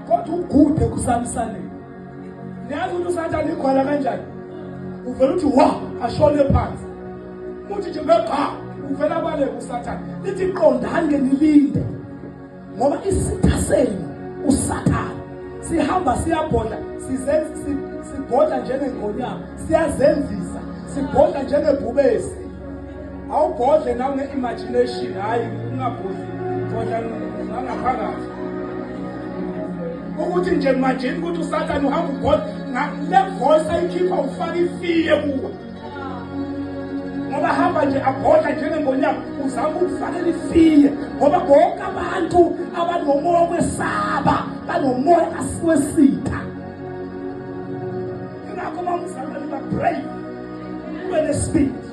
kodwa ugude kusalisaleni niyazi ukuthi usathane igwala kanjani uvela ukuthi wa ashone phansi uthi nje bebha uvela kwale usathane lithi qondani-ke nilinde ngoba isitha senu usathane sihamba siyabhodla sibhodla njengengonyama siyazenzisa sibhodla njengebhubesi awubhodle nawe nge-imagination hhayi ungabhodli bhodla nangaphakathi ukuthi nje manjeni ukuthi usathane uhamba ubhodla le voice ayikhipha ufake ifiye kuwe ngoba hamba nje abhodla njengengonyama uzama ukufakela ifiye ngoba bonke abantu abanomoya kwesaba banomoya asiwesitha ingakho uma umzalwane babrave ube nesibindi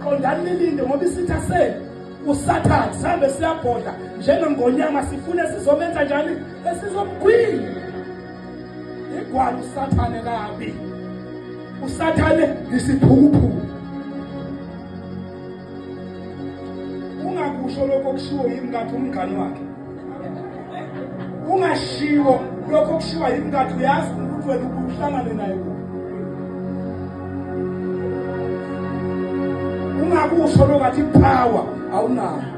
qondani nilinde ngoba isitha senu usathane sihambe siyabhodla njengengonyama sifune sizomenza njani esizomgwini igwala usathane kabi usathane ngisiphukuphuku ungakusho lokho okushiwo yimkakhe umngane wakhe ungashiwo lokho okushiwa yimkakhe uyazi ukuthi wena uhlangane naye ungakusho lokathi power awunayo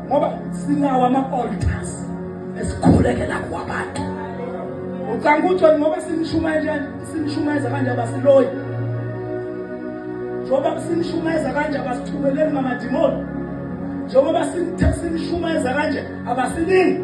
ngoba sinawo ama-altars esikhulekela kuwo abantu ucanga ukuthi ngoba sinishumayela sinishumayeza kanje abasiloyi njengoba sinishumayeza kanje abasithumeleli ngamadimoni njengoba sinishumayeza kanje abasiningi